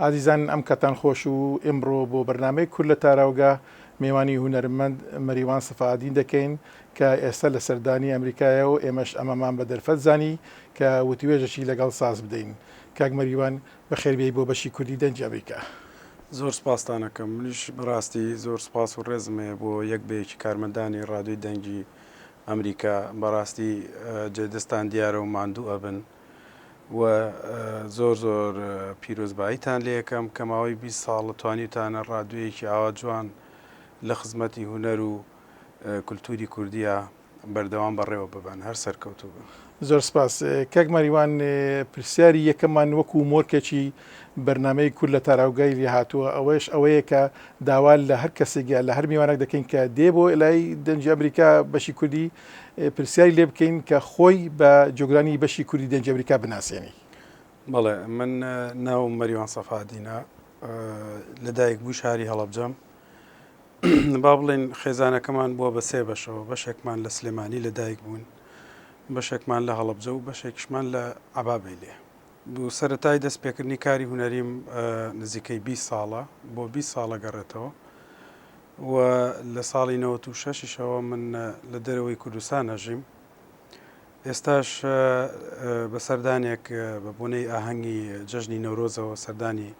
ئازیزان ئەم کاتان خۆش و ئمڕۆ بۆ بەرنامەی کورد لە تاراوگە مێوانی هونەرمەند مەریوان سەفائەدین دەکەین کە ئێستا لە سەردانی ئەمریکایە و ئێمەش ئەمەمان بە دەرفەت زانی کە وتوێژەکی لەگەڵ ساز بدەین کاک مەریوان بەخێر بێی بۆ بەشی کوردی دەنگی ئەمریکا. زۆر سپاستان ئەکەم منیش بەڕاستی زۆر سپاس و ڕێزم هەیە بۆ یەک بە یەکی کارمەندانی ڕادیۆی دەنگی ئەمریکا بەڕاستی جێ دەستان دیارە و ماندوو ئەبن. و زۆر زۆر پیرۆزباییتان لێکەم کە ماوەی بیست ساڵ توانیوتانە ڕادوێیەکی ئاوا جوان لە خزمەتی هونەر و کولتووری کوردیا بەردەوام بەڕێوە ببەن. هەر سەرکەوتوو بن. زۆر سپاس کاک مەریوان، پرسیاری یەکەممان وەکو مۆرکێکی بەرنامەی کورد لە تاراوگای لێهاتووە ئەوەش ئەوەیە کە داوا لە هەر کەسێک یا لە هەر میوانەک دەکەین کە دێ بۆ لای دەنگی ئەمریکا بەشی کوردی پرسیاری لێ بکەین کە خۆی بە جۆگرانی بەشی کوردی دەنج ئەمریکا بناسێنی بەڵێ من ناو مەریوان سەفادینە لە دایک بوو شاری هەڵبجەم با بڵێن خێزانەکەمان بووە بە سێ بەشەوە بەشێکمان لە سلێمانی لە دایک بوون بەشێکمان لە هەڵبجە و بەشێکشمان لە عبابێ لێ سەرەتای دەست پێکردنی کاری هونەریم نزیکەی بیست ساڵە بۆ بیست ساڵ ئەگەڕێتەوە و لە ساڵی نەوەت و شەشیشەوە من لە دەرەوەی کوردستان ئەژیم ئێستاش بە سەردانێک بە بۆنەی ئاهەنگی جەژنی نەورۆزەوە سەردانی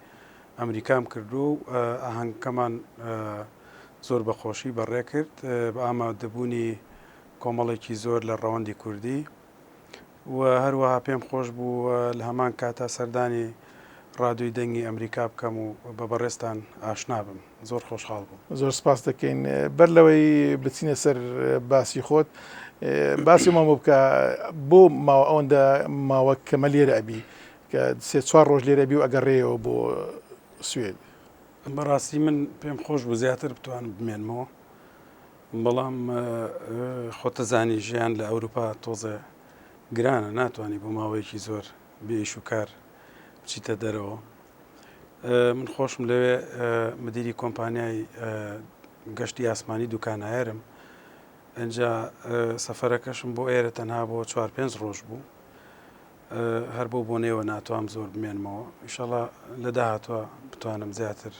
ئەمریکام کردو و ئاهەنگکەمان زۆر بە خۆشی بەڕێکرد بە ئامادەبوونی کۆمەڵێکی زۆر لە ڕەوەندی کوردی و هەروەها پێم خۆش بوو لە هەمان کاتا سەردانی ڕادوی دەنگی ئەمریکا بکەم و بە بەڕێزتان ئاشنا بم زۆر خۆشحاڵ بووم زۆر سپاس دەکەین بەر لەوەی بچینە سەر باسی خۆت باسی مامۆ بکە بۆ ماوە ئەوەندە ماوە کەمە لێرە ئەبی کە سێ چوار ڕۆژ لێرە بی و ئەگەڕێەوە بۆ سوێد بەڕاستی من پێم خۆش بوو زیاتر بتوانم بمێنمەوە بەڵام خۆتدەزانی ژیان لە ئەوروپا تۆزێ گرانە ناتوانی بۆ ماوەیەکی زۆر بێ ئیش و کار بچیتە دەرەوە من خۆشم لەوێ مدیری کۆمپانیای گەشتی ئاسمانی دوکانایەرم ئەجا سەفەرەکەشم بۆ ئێرە تەنها بۆ چوار پێنج ڕۆژ بوو هەر بۆ بۆنەوە ناتوام زۆر بمێنمەوە ئیشەڵا لە داهاتوە بتوانم زیاتر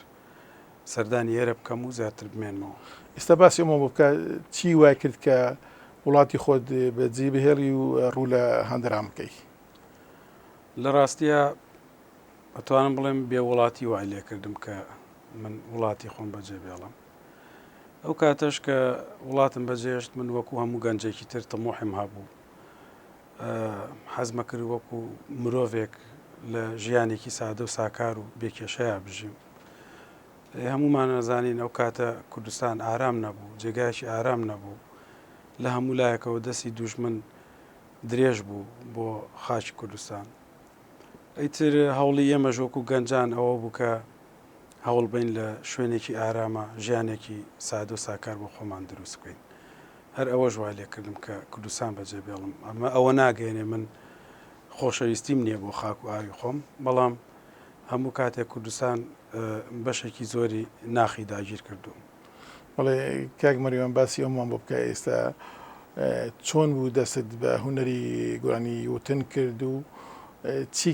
سەردانی ئێرە بکەم و زیاتر بمێنمەوە ئستا باسی ئەمە بکە چی وای کرد کە وڵاتی خۆت بە جی بهێڵی و ڕوو لە هەندران بکەی لە ڕاستە ئەتوانم بڵێم بێ وڵاتی وای لێ کردم کە من وڵاتی خۆم بەجێ بێڵم ئەو کاتەش کە وڵاتم بەجێشت من وەکو هەموو گەنجێکی تر تەمۆحم هەبوو حەزمەکرد وەکو مرۆڤێک لە ژیانێکی سادە و ساکار و بێکێشەیە بژیم هەمومان نەزانین ئەو کاتە کوردستان ئارام نەبوو جێگایکی ئارام نەبوو لە هەموو لایەکەوە دەستی دوژمن درێژ بوو بۆ خاچی کوردستان ئەیتر هەوڵی ئێمە ژۆکو گەنجان ئەوە بوو کە هەوڵ بین لە شوێنێکی ئارامە ژیانێکی سادە و ساکار بۆ خۆمان دروست بکەین هەر ئەوەش وای لێ کردم کە کوردستان بەجێ بێڵم. ئەمە ئەوە ناگەیەنێ من خۆشەویستیم نییە بۆ خاک و ئاوی خۆم، بەڵام هەموو کاتێک کوردستان بەشێکی زۆری ناخی داگیر کردووم. بەڵێ کاک مەریوان باسی ئەومان بۆ بکە ئێستا چۆن بوو دەستت بە هونەری گۆرانی وتن کرد و چی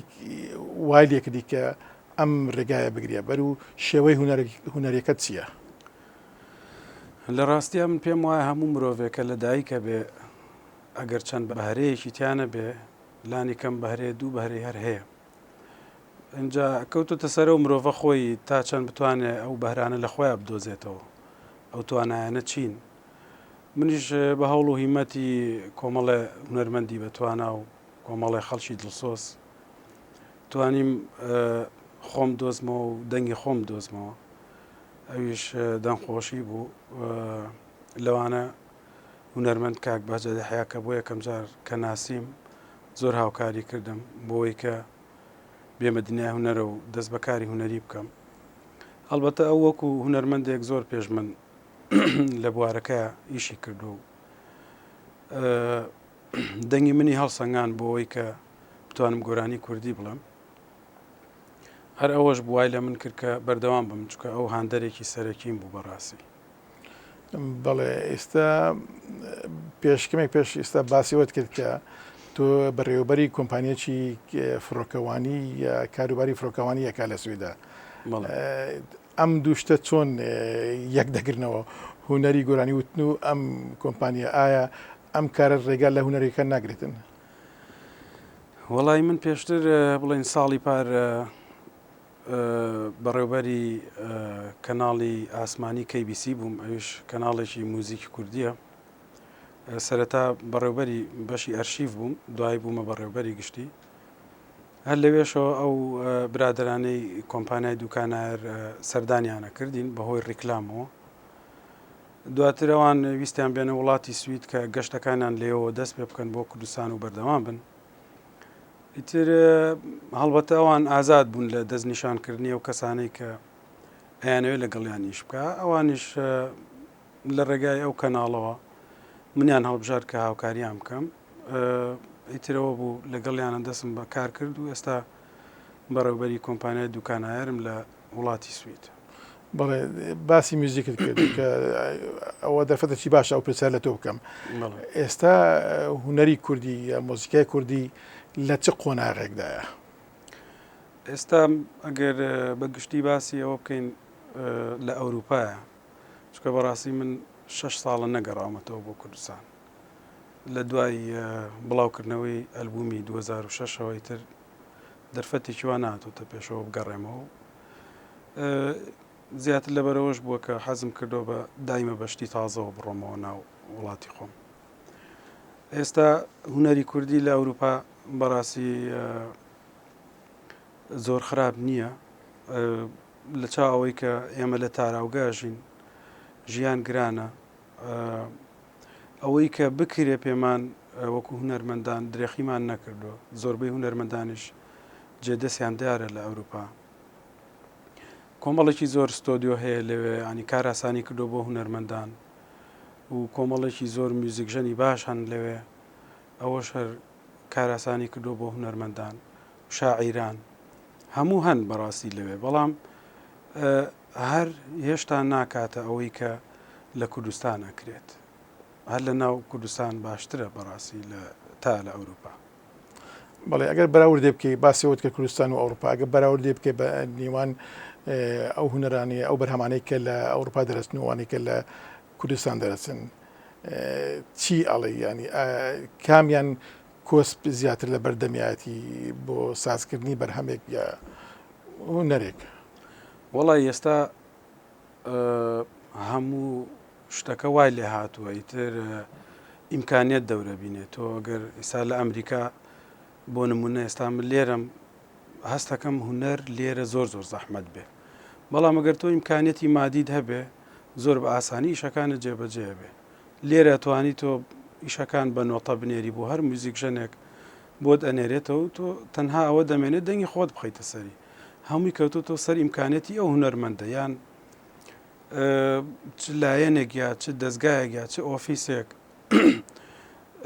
وای لێکردی کە ئەم ڕێگایە بگرە بەر و شێوەی هونەرەکەت چییە؟ لە ڕاستیا من پێم وایە هەموو مرۆڤێک کە لە دایکە بێ ئەگەر چەند بەهرەیەکی تیانە بێ لانی کەم بەهرەیە دوو بەهرەی هەر هەیە اینجا کەوتوتە سەرە و مرۆڤە خۆی تا چەند بتوانێت ئەو بەهرانە لە خۆیان بدۆزێتەوە ئەو توانایانە چین منیش بە هەوڵ و هیمەتی کۆمەڵێ هونەرمەندی بەتوانا و کۆمەڵێ خەڵکی دڵسۆز توانیم خۆم دۆزمەوە و دەنگی خۆم دۆزمەوە ئەویش دەنگخۆشی بوو لەوانە هونەرمەند کاک بەجە دەحیا کە بۆ یەکەم جار کە ناسیم زۆر هاوکاری کردم بۆی کە بێمە دنیای هونەرە و دەست بەکاری هونەری بکەم هەڵبەتە ئەو وەکو هونەرمەندێک زۆر پێش من لە بوارەکە ئیشی کردو و دەنگی منی هەڵسەنگان بۆەوەی کە بتوانم گۆرانی کوردی بڵم هەر ئەوەش بوای لە من کرد کە بەردەوام بم چکە ئەو هاندەرێکی سەرەکیم بوو بەڕاستی بەڵێ ئێستا پێشکەمێک پێش ئێستا باسیوەت کرد کە تۆ بەڕێوەبەری کۆمپانیەکی فڕۆکەوانی یا کاروباری فڕۆکەوانی یەکا لە سویدا ئەم دووشتە چۆن یەک دەگرنەوە هوەری گۆرانی وتن و ئەم کۆمپانیا ئایا ئەم کارە ڕێگا لە هوەرەکە ناگرێتن وەڵای من پێشتر بڵین ساڵی پار بەڕێوبەری کەناڵی ئاسمانی KBC بووم ئەوش کەناڵێکی موزیکی کوردیە سەرەتا بەڕێوبەری بەشی ئەرشیف بووم دوای بوومە بەڕێوبەری گشتی هەر لەوێشەوە ئەو برادرانەی کۆمپانای دوکانار سەردانیانە کردین بەهۆی ڕیکلامەوە دواتر ئەوان ویستیان بێنە وڵاتی سوید کە گەشتەکانیان لێەوە دەست پێ بکەن بۆ کوردستان و بەردەوام بن. ئیتر هەڵبەتە ئەوان ئازاد بوون لە دەست نیشانکردنی ئەو کەسانەی کە ئەیانەوێت لەگەڵیانیش بکە ئەوانیش لە ڕێگای ئەو کەناڵەوە منیان هەڵبژار کە هاوکاریان بکەم ئیترەوە بوو لەگەڵیانە دەستم بە کار کرد و ئێستا بەڕێوبەری کۆمپانیای دوکانایرم لە وڵاتی سوید. بەڵێ باسی میوزیکت کرد کە ئەوە دەرفەتەکی باشە ئەو پرسیار لە تۆ بکەم ئێستا هوەری کوردی یا مۆزیکای کوردی لە چ قۆناغێکدایە ئێستا ئەگەر بە گشتی باسی ئەوە بکەین لە ئەوروپایە چکە بەڕاستی من شش ساڵە نەگەڕامەتەوە بۆ کوردستان لە دوای بڵاوکردنەوەی ئەلبومی 2006ەوەی تر دەرفەتێکی وا نهاتۆتە پێشەوە بگەڕێمەوە و زیاتر لەبەرەوەش بووە کە حەزم کردەوە بە دایمە بەشتی تازەوە بڕۆمەوە ناو وڵاتی خۆم ئێستا هوەری کوردی لە ئەوروپا بەڕاستی زۆر خراپ نییە لە چا ئەوەی کە ئێمە لە تاراوگەژین ژیان گرانە ئەوەی کە بکرێ پێمان وەکو هونەرمەندان درێخیمان نەکردووە زۆربەی هونەرمەندانیش جێ دەستیان دیارە لە ئەوروپا کۆمەڵێکی زۆر ستۆدیۆ هەیە لەوێ ینی کاراسانی کردو بۆ هونەرمەندان و کۆمەڵێکی زۆر میوزیکژەنی باش هەن لەوێ ئەوەش هەر کاراسانی کردو بۆ هونەرمەندان شاعیران هەموو هەن بەڕاستی لەوێ بەڵام هەر هێشتا ناکاتە ئەوەی کە لە کوردستان ئەکرێت هەر لە ناو کوردستان باشترە بەڕاستی لە تا لە ئەوروپا. بەڵێ ئەگەر بەراوردێ بکەی باسی وت کە کوردستان و ئەوروپا ئەگە بەراوردێ بکەی بە نیوان ئەو هوەرانی ئەو بەرهەمانەی کە لە ئەوروپا دەرەچن وانەی کە لە کوردستان دەرەچن چی ئەڵێ ینی کامیان کۆسپ زیاتر لە بەردەمیایەتی بۆ سازکردنی بەرهەمێک یا هوەرێک وەڵا ئێستا هەموو شتەکە وای لێ هاتووە ئیتر ئیمکانیت دەورە بینێت تۆ گەر ئێستا لە ئەمریکا بۆ نمونە ئێستا من لێرم هەستەکەم هوەر لێرە زۆر زۆر زەحمت بێ بەڵام ئەگەر تۆ ئیمکانیەتی مادید هەبێ زۆر بە ئاسانی ئیشەکانە جێبەجێ بێ لێرە توانی تۆ ئیشەکان بە نۆتە بنێری بۆ هەر موزیک ژەنێک بۆت ئەنێرێتەوە تۆ تەنها ئەوە دەمێنێت دەنگی خۆت بخیتە سەری هەمووی کەوتۆتەوە سەر ئیمکانەتی ئەو هونەرمەندە یان چ لایەنێک یا چ دەستگایەک یا چ ئۆفیسێک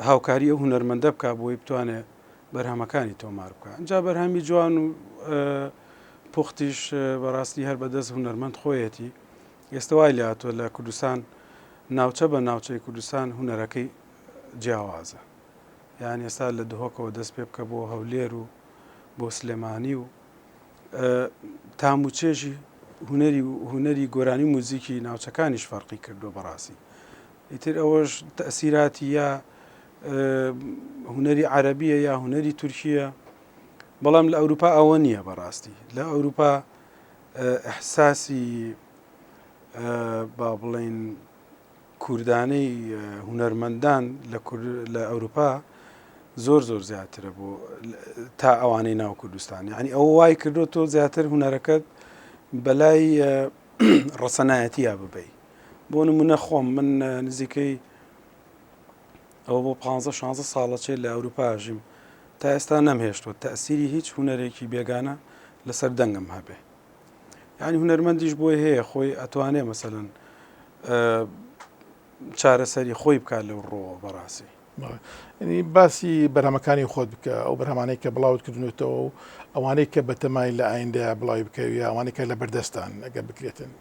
هاوکاری ئەو هونەرمەندە بک بۆی بتوانێت بەرهەمەکانی تۆمار بکە جا بەرهەمی جوان و پوختیش بەڕاستی هەر بەدەست هونەرمەند خۆیەتی ئێستا وای لاتوە لە کوردستان ناوچە بە ناوچەی کوردستان هوەرەکەی جیاوازە یان ئێستا لە دهۆکەوە دەست پێ بکە بۆ هەولێر و بۆ سلێمانی و تام و چێژی هوەری و هوەری گۆرانی و موزیکی ناوچەکانیش فەرقی کردووە بەڕاستی ئیتر ئەوەش تەسیراتی یا هوەری عەربیە یا هوەری تورکیە بەڵام لە ئەوروپا ئەوە نییە بەڕاستی لە ئەوروپا احساسی با بڵین کوردانەی هونەرمەندان لە ئەوروپا زۆر زۆر زیاترە بۆ تا ئەوانەی ناو کوردستان یعنی ئەو وای کردو تۆ زیاتر هونەرەکەت بەلای ڕەسەنایەتە ببی بۆ نمونە خۆم من نزیکەی ئەو بۆ 15 16 ساڵەچێت لە ئەوروپاژیم تا ئێستا نەمهێشتوە تاسیری هیچ هونەرێکی بێگانە لەسەر دەنگم هەبێ یانی هونەرمەندیش بۆی هەیە خۆی ئەتوانێ مەسەن چارەسەری خۆی بکات لەو ڕۆوە بەڕاستی ینی باسی بەرهەمەکانی خۆت بکە ئەو بەرهەمانەی کە بڵاوت کردنێتەوە و ئەوانەی کە بەتەمای لە ئایندە بڵاوی بکەوی ئەوانەکە لە بەردەستان ئەگە بکرێتن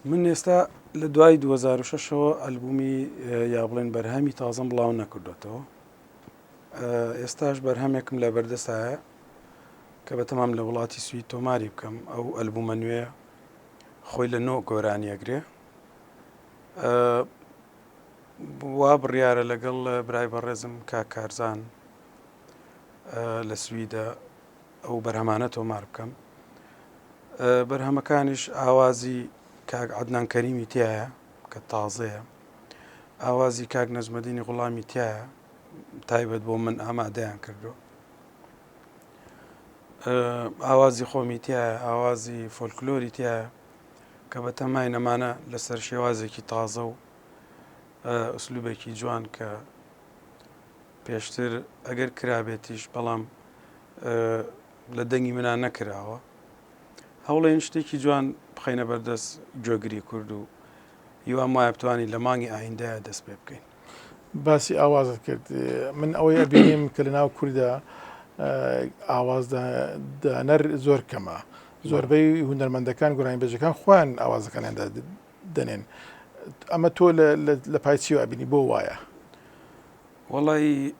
من ئێستا لە دوای 2006ەوە ئەلبومی یا بڵێن بەرهەمی تازم بڵاو نەکردوێتەوە ئێستاش بەرهەمێکم لە بەردەستایە کە بەتەمام لە وڵاتی سوید تۆماری بکەم ئەو ئەلبومە نوێ خۆی لە نۆ گۆرانی ئەگرێ وا بڕیارە لەگەڵ برای بەڕێزم کا کارزان لە سویدە ئەو بەرهەمانە تۆمار بکەم بەرهەمەکانیش ئاوازی کاک عدنان کەریمی تایە کە تازەیە ئاوازی کاک نەزمەدینی غڵامی تایە تایبەت بۆ من ئامادەیان کردو ئاوازی خۆمی تایە ئاوازی فۆلکلۆری تایە کە بە تەمای نەمانە لەسەر شێوازێکی تازە و ئەسلوبێکی جوان کە پێشتر ئەگەر کرابێتیش بەڵام لە دەنگی منان نەکراوە هەوڵێن شتێکی جوان بخینە بەردەست گوێگری کورد و هیوام وایە بتوانین لە مانگی ئایندە دەست پێ بکەین باسی ئاوازت کرد من ئەوەی ئەبینیم کە لە ناو کووردا ئاوازدانەر زۆر کەمە زۆربەی هوەرمەندەکان گورانی بەجەکان خوان ئاوازەکانیان دەنێن ئەمە تۆ لە پایچیوە ئەبینی بۆ وایە وڵی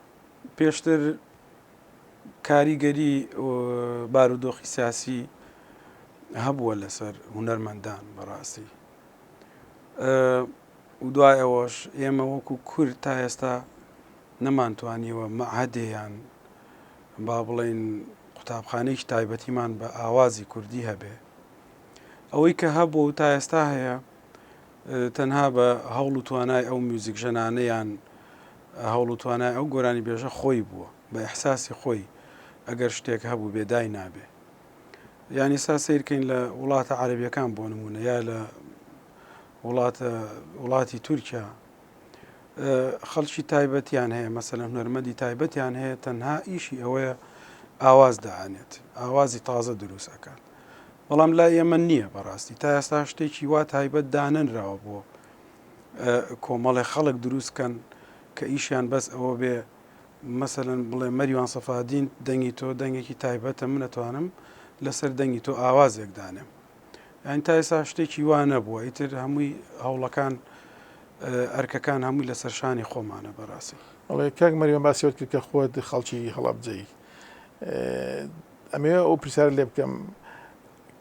پێشتر کاریگەری بارودۆخی سیاسی هەبووە لەسەر هوەرمەندان بەڕاستی و دوای ئەوەش ئێمە وەکو کورد تا ئێستا نەمانتوانیوە مەعهەدێ یان با بڵێین قوتابخانەیەکی تایبەتیمان بە ئاوازی کوردی هەبێ ئەوەی کە هەبوو و تا ئێستا هەیە تەنها بە هەوڵ و توانای ئەو میوزیک ژەنانەیان هەوڵ و توانای ئەو گۆرانی بێژە خۆی بووە بە احساسی خۆی ئەگەر شتێک هەبوو بێدای نابێ یانی سا سیرکەین لە وڵاتە عربیەکان بۆ نمونە یا لە وڵاتە وڵاتی تورکیا خەڵکی تایبەتیان هەیە مەسەلە هونەرمەندی تایبەتیان هەیە تەنها ئیشی ئەوەیە ئاواز دەانێت ئاوازی تازە دروست ئەکات بەڵام لا ئێمە نییە بەڕاستی تا ئێستا شتێکی وا تایبەت دانەنراوە بۆ کۆمەڵی خەڵک دروستکەن کە ئیشیان بەس ئەوە بێ مەسەن بڵێ مەریوان سەفادین دەنگی تۆ دەنگێکی تایبەتە منەتوانم لەسەر دەنگی تۆ ئاوازێکدانێم یانی تا ئێستا شتێکی وا نەبووە ئیتر هەمووی هەوڵەکان ئەرکەکان هەمووی لەسەر شانی خۆمانە بەڕاستی ئەڵێ کاک مەریوان باسیۆت کرد کە خۆت خەڵکی هەڵابجەی ئەمێ ئەو پرسیار لێ بکەم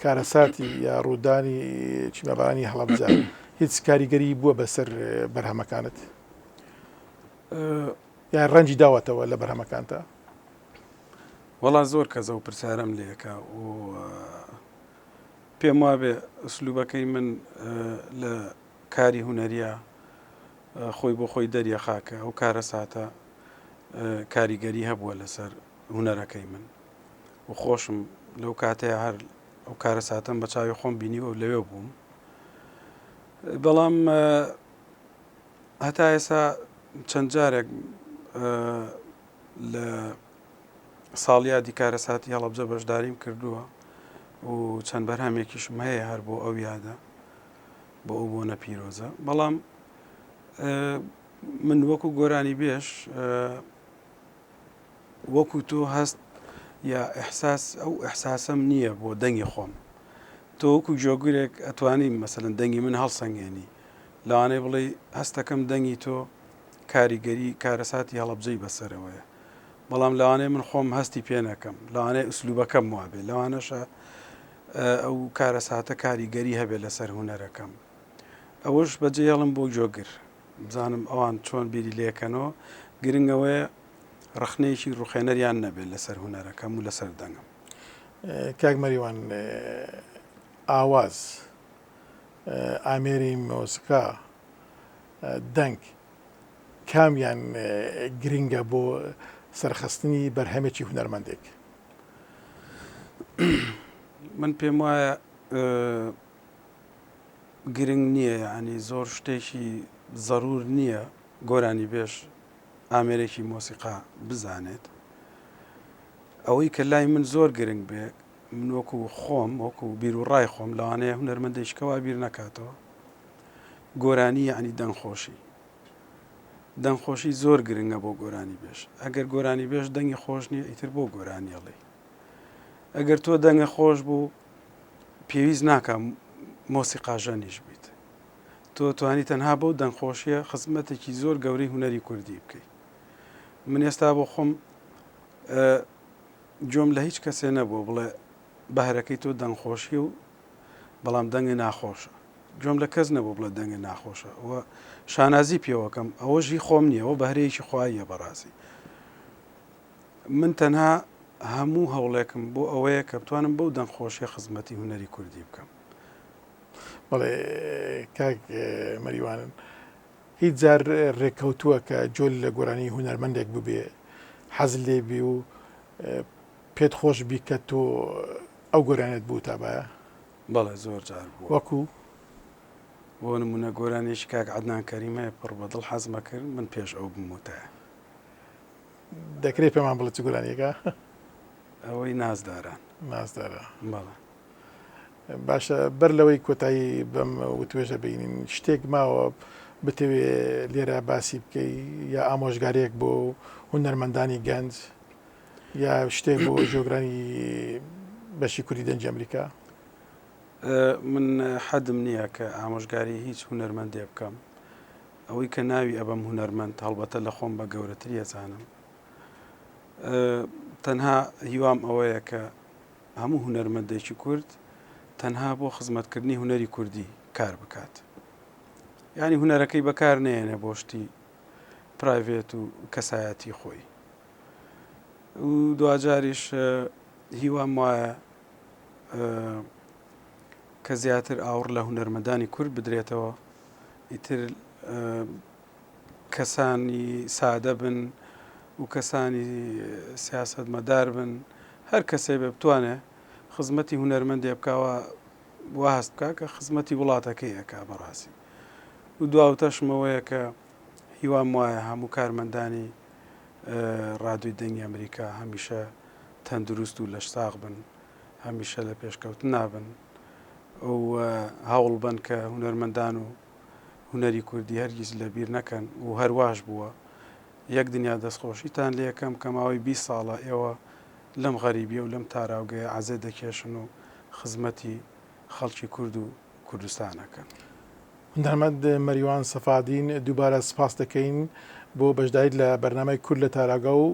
کارەساتی یا ڕوودانی چیمەبارانی هەڵبجە هیچ کاریگەری بووە بەسەر بەرهەمەکانت یا ڕەنجی داوەتەوە لە بەرهەمەکانتە وەڵا زۆر کەزە و پرسیارم لەکە و پێموابێ ئسلوبەکەی من لە کاری هونەرییا خۆی بۆ خۆی دەریەخا کە ئەو کارەساتە کاریگەری هەبووە لەسەر هونەرەکەی من و خۆشم لەو کاتەیە هەر ئەو کارەساتەم بە چاوی خۆم بینیوە و لەوێ بووم بەڵام هەتا ئێسا چەند جارێک لە ساڵیادی کارەساتی هەڵەبجە بەشداریم کردووە و چەند بەرهەمێکیشم هەیە هەر بۆ ئەو یادە بۆ ئەو بۆنە پیرۆزە بەڵام من وەکو گۆرانی بێش وەکو تۆ هەست یا ئەحساس ئەو ئەحساسم نییە بۆ دەنگی خۆم تۆ وەکو جۆگرێک ئەتوانی مەسەن دەنگی من هەڵسەنگێنی لەوانەیە بڵێ هەستەکەم دەنگی تۆ کاریگەری کارەساتی هەڵەبجەی بەسەرەوەیە، بەڵام لەوانەیە من خۆم هەستی پێ نەکەم، لەوانەیە ئوسلوبەکەم وابێ، لەوانەشە ئەو کارەساتە کاریگەری هەبێ لەسەر هونەرەکەم. ئەوەش بەجێهێڵم بۆ گۆگر، بزانم ئەوان چۆن بیری لێکەنەوە، گرنگ ئەوەیە ڕەخنەیەکی ڕوخێنەریان نەبێ لەسەر هونەرەکەم و لەسەر دەنگم. کاک مەریوان ئاواز، ئامێری مۆسیقا، دەنگ کامیان گرنگە بۆ سەرخستنی بەرهەمێکی هونەرمەندێک؟ من پێم وایە گرنگ نییە ینی زۆر شتێکی زەرور نییە گۆرانی بێش ئامێرێکی مۆسیقا بزانێت ئەوەی کە لای من زۆر گرنگ بێ من وەکو خۆم وەکو بیر و ڕای خۆم لەوانەیە هونەرمەندێکەوە بیر نەکاتەوە گۆرانی یەعنی دەنگ خۆشی دەنگ خۆشی زۆر گرنگە بۆ گۆرانی بێژ ئەگەر گۆرانی بێژ دەنگی خۆش نییە ئیتر بۆ گۆرانی ئەڵێ ئەگەر تۆ دەنگە خۆش بوو پێویست ناکەم مۆسی قاژەنیش بیت تۆ توانی تەنها بەو دەنگخۆشیە خزمەتێکی زۆر گەوری هوەری کوردی بکەیت من ئێستا بۆ خۆم جۆم لە هیچ کەسێ نەبووە بڵێ بەهرەکەی تۆ دەنگ خۆشیە و بەڵام دەنگە ناخۆشە گوێم لە کەس نەبوو بڵێ دەنگە ناخۆشە و شانازی پێوەکەم ئەوە ژی خۆم نییە و بەهرەیەکی خواییە بەڕاستی من تەنها هەموو هەوڵێکم بۆ ئەوەیە کە بتوانم بەو دەنگ خۆشیە خزمەتی هوەری کوردی بکەم بەڵێ کاک مەریوانن هیچ جار ڕێککەوتووە کە جۆل لە گۆرانی هوەرمەندێک ببێ حەز لێبی و پێت خۆش بی کە تۆ ئەو گۆرانیەت بوتابایە؟ بەڵێ زۆر جار بووە. وەکو؟ بۆ نمونە گۆرانیەکی کاک عەدنان کەریمەیە پڕ بە دڵ حەزمە کرد من پێش ئەو بموتایە. دەکرێت پێمان بڵێت چ گۆرانیەکە؟ ئەوەی نازداران. نازدارە. بەڵێ. باشە بەر لەوەی کۆتایی بەم وتوێژە بینین شتێک ماوە بتەوێ لێرە باسی بکەی یا ئامۆژگارێک بۆ هونەرمەندانی گەنج یا شتێک بۆ جۆگرانی بەشی کوردی دەنگی ئەمریکا؟ من حەدم نییە کە ئامۆژگاری هیچ هونەرمەندێ بکەم ئەوەی کە ناوی ئەبەم هونەرمەند هەڵبەتە لە خۆم بە گەورەتری ئەزانم تەنها هیوام ئەوەیە کە هەموو هونەرمەندێکی کورد تەنها بۆ خزمەتکردنی هوەری کوردی کار بکات ینی هوەرەکەی بەکار نێنە بۆشتی پرایڤێت و کەسایەتی خۆی و دواجاریش هیوام وایە کە زیاتر ئاوڕ لە هونەرمەدانی کورد بدرێتەوە ئیتر کەسانی سادە بن و کەسانی سیاست مەدار بن هەر کەسێ بێ بتوانێ خزمەتی هونەرمەندێ بکەوە واست بکە کە خزمەتی وڵاتەکەی ئەک بەڕاستی و دواوتەشمەوەیە کە هیوام وایە هەموو کارمەندانی ڕادیۆی دەنگی ئەمریکا هەمیشە تەندروست و لەش ساغ بن هەمیشە لە پێشکەوت نابن ئەو هەوڵ بن کە هوەرمەندان و هوەری کوردی هەرگیز لەبیر نەکەن و هەرواش بووە یەک دنیا دەستخۆشیتان لەکەم کە ماوەی 20 ساڵە ئێوە لەم غەریبیە و لەم تاراوگەیە عزێ دەکێشن و خزمەتی خەڵکی کورد و کوردستان ئەکەن. هونەرمەند مەریوان سەفادین دووبارە سپاست دەکەین بۆ بەشداریت لە بەرنامەی کورد لە تاراگە و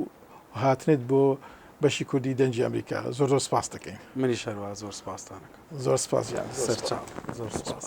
هاتنت بۆ بەشی کوردی دەنگی ئەمریکا زۆر زۆر سپاست دەکەین منی شەروا زۆر سپاستانەکە زۆر سپاس سەرچاو زۆر سپاس.